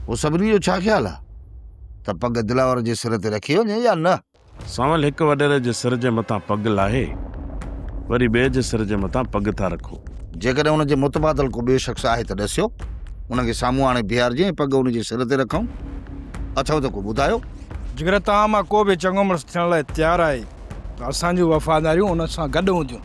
پوء سڀني جو ڇا خيال آ ته پڳ دلاور جي سر تي رکي وڃي يا نه؟ سانول هڪ وڏيري جي سر جي مٿان پڳ لاهي وري ٻئي جي سر جي مٿان پڳ ٿا رکو. جيڪڏهن ان جي متبادل ڪو ٻيو شخص آهي ته ڏسيو، ان کي سامهون آڻي بيهارجي ۽ پڳ ان جي سر تي رکون. اٿئو ته ڪو ٻڌايو. جيڪڏهن توهان مان ڪو به چڱو مڙس ٿيڻ لاء تيار آهي ته اسان جون وفاداريون ان سان گڏ هونديون.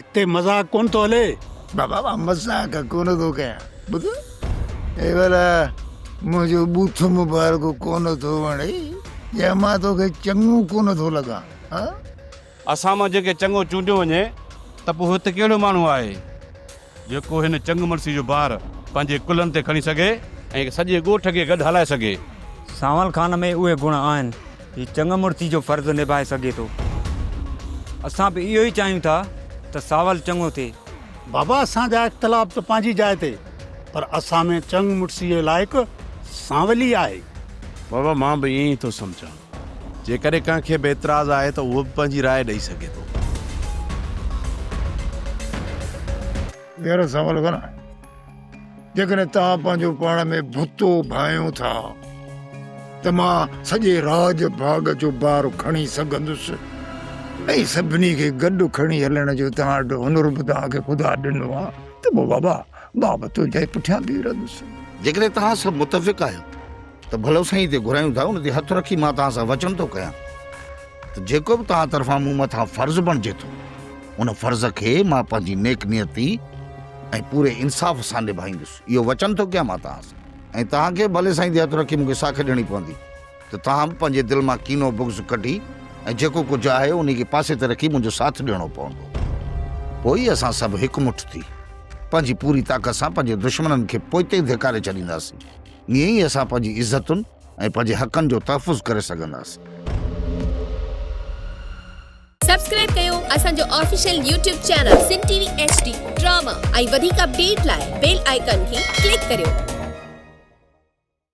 اتي مذاق ڪونه ٿو هلي. بابا مان مذاق ڪونه ٿو ڪيان ٻڌ اي ڀلا منهنجو بوٿ مبارڪ ڪونه ٿو وڻي يا مان توکي چڱو ڪونه ٿو لڳان ها. اسان مان جنهن کي چڱو چونڊيو وڃي ته پوء هت ڪهڙو ماڻهو آهي جيڪو هن چڱمنسي جو بار پنهنجي ڪلهن تي کڻي سگهي ۽ سڄي ڳوٺ کي گڏ هلائي سگهي. سانول خان ۾ اهي گڻ آهن. هي چڱ مڙسي جو فرض نڀائي سگهي ٿو. اسان به اهو ئي چاهيون ٿا ته ساول چڱو ٿئي. بابا اسان جا اختلاف ته پنهنجي جاء تي پر اسان ۾ چڱ مڙسي جي لائق سانول ئي آهي. بابا مان به ائين ئي ٿو سمجهان. جيڪڏهن ڪنهن کي به اعتراض آهي ته اهو به پنهنجي راء ڏئي سگهي ٿو. ٻيهر سوال ڪران؟ جيڪڏهن توهان پنهنجو پاڻ ۾ ڀتو ڀانئيو ٿا ته مان سڄي راڄ ڀاڳ جو بار کڻي سگهندس ۽ سڀني کي گڏ کڻي هلڻ جو توهان وٽ هنر به توهان کي خدا ڏنو آهي ته پوء بابا مان به تنهنجي پٺيان بيهي رهندس. جيڪڏهن توهان سڀ متفق آهيو ته ڀلو سائين تي گهرايون ٿا ان تي هٿ رکي مان توهان سان وچن ٿو ڪيان ته جيڪو به توهان طرفان مون مٿان فرض بڻجي ٿو ان فرض کي مان پنهنجي نيڪ نيتي ۽ پوري انصاف سان نڀائيندس اهو وچن ٿو ڪيان مان توهان سان ۽ توهان کي ڀلي سائين تي هٿ رکي مون کي ساکي ڏيڻي پوندي ته توهان به پنهنجي دل مان ڪينو بغض ڪڍي ۽ جيڪو ڪجهه آهي انهي کي پاسي تي رکي منهنجو ساٿ ڏيڻو پوندو پوء ئي اسان سڀ هڪ مٺ ٿي پنهنجي پوري طاقت سان پنهنجي دشمنن کي پوئتي ڌڪاري ڇڏينداسين ايئن ئي اسان پنهنجي عزتن ۽ پنهنجي حقن جو تحفظ ڪري سگهنداسين. سبسڪرائب ڪيو اسان جو official YouTube channel Sindh T V H D drama ۽ وڌيڪ اپڊيٽ لاء بيل آئيڪان کي ڪلڪ ڪريو.